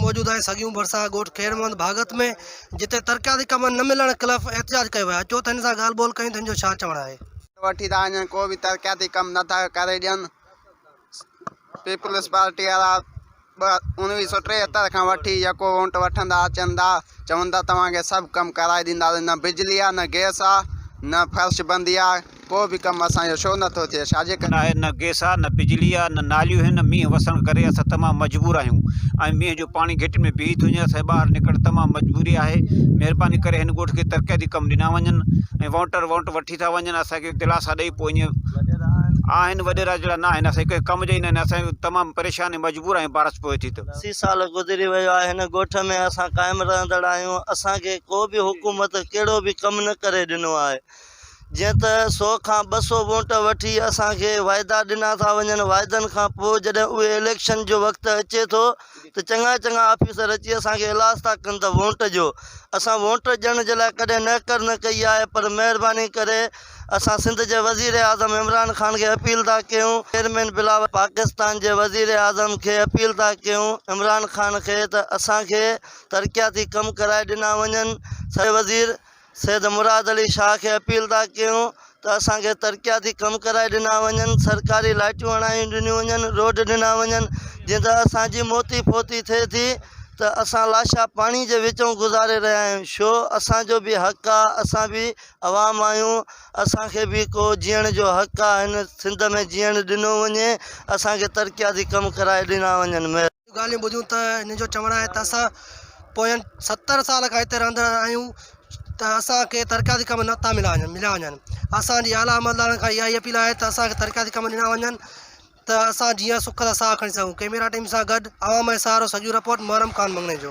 موجود آهي سڳيون ڀرسان ڳوٺ خير محمد ڀاڳت ۾ جتي ترقياتي ڪم نه ملڻ خلاف احتجاج ڪيو ويو آهي اچو ته هن سان ڳالهه ٻولهه ڪيون ته هن جو ڇا چوڻ آهي. وٺي ٿا وڃن ڪو به ترقياتي ڪم نه ٿا ڪري ڏين پيپلز پارٽي وارا انويهه سو ٽيهتر کان وٺي يڪو وونٽ وٺندا اچن ٿا چون ٿا توهان کي سڀ ڪم ڪرائي ڏيندا نه بجلي آهي نه گيس آهي نه فرش بندي آهي ڪو به ڪم اسان جو شو نٿو ٿئي ڇاجي ڪري. ناهي نه گئس آ نه بجلي آ نه ناليون هن مينهن وسڻ ڪري اسان تمام مجبور آهيون ۽ مينهن جو پاڻي گهٽين ۾ بيهي ٿو وڃي اسان کي ٻاهر نڪرڻ تمام مجبوري آهي مهرباني ڪري هن ڳوٺ کي ترقياتي ڪم ڏنا وڃن ۽ وانٽر وانٽ وٺي ٿا وڃن اسان کي دلاسا ڏئي پوء ائين آهن وڏيرا جهڙا ناهن اسان کي ڪنهن ڪم جا ئي ناهن اسان تمام پريشان ۽ مجبور آهيون بارش پوي ٿي ته. اسي سال گذري ويو آهي هن ڳوٺ ۾ اسان قائم رهندڙ آهيون اسان کي ڪو به حڪومت ڪهڙو به ڪم نه ڪري ڏنو آهي جيئن ته سو کان ٻه سو ووٽ وٺي اسان کي واعدا ڏنا ٿا وڃن واعدن کان پوء جڏهن اهي اليڪشن جو وقت اچي ٿو ته چڱا چڱا آفيسر اچي اسان کي الاس ٿا ڪن ته ووٽ ڏيو اسان ووٽ ڏيڻ جي لاء ڪڏهن نهڪر نه ڪئي آهي پر مهرباني ڪري اسان سنڌ جي وزيراعظم عمران خان کي اپيل ٿا ڪيون چيئرمين بلاول پاڪستان جي وزيراعظم کي اپيل ٿا ڪيون عمران خان کي ته اسان کي ترقياتي ڪم ڪرائي ڏنا وڃن سڄي وزير سيد مراد علي شاهه کي اپيل ٿا ڪيون ته اسان کي ترقياتي ڪم ڪرائي ڏنا وڃن، سرڪاري لائٽيون هڻايون ڏنيون وڃن، روڊ ڏنا وڃن، جيئن ته اسان جي موتي فوتي ٿئي ٿي ته اسان لاشا پاڻي جي وچئون گذاري رهيا آهيون، شو اسان جو به حق آ، اسان به عوام آهيون، اسان کي به ڪو جيئڻ جو حق آ، هن سنڌ ۾ جيئڻ ڏنو وڃي، اسان کي ترقياتي ڪم ڪرائي ڏنا وڃن. مهرباني. جون ڳالهيون ٻڌيون ته هن جو چوڻ آهي ته اسان پوين ستر سال کان هتي رهندڙ آهيون ته اسانکي ترقياتي ڪم نه ٿا ملا وڃن مليا وڃن اسانجي اعليٰ عملدارن کان اها ئي اپيل آهي ته اسانکي ترقياتي ڪم ڏنا وڃن ته اسان جيئن سک سان ساهه کڻي سگهون ڪئميرا ٽيم سان گڏ عوام ۽ سهارو سڄو رپورٽ محرم خان مڱڻي جو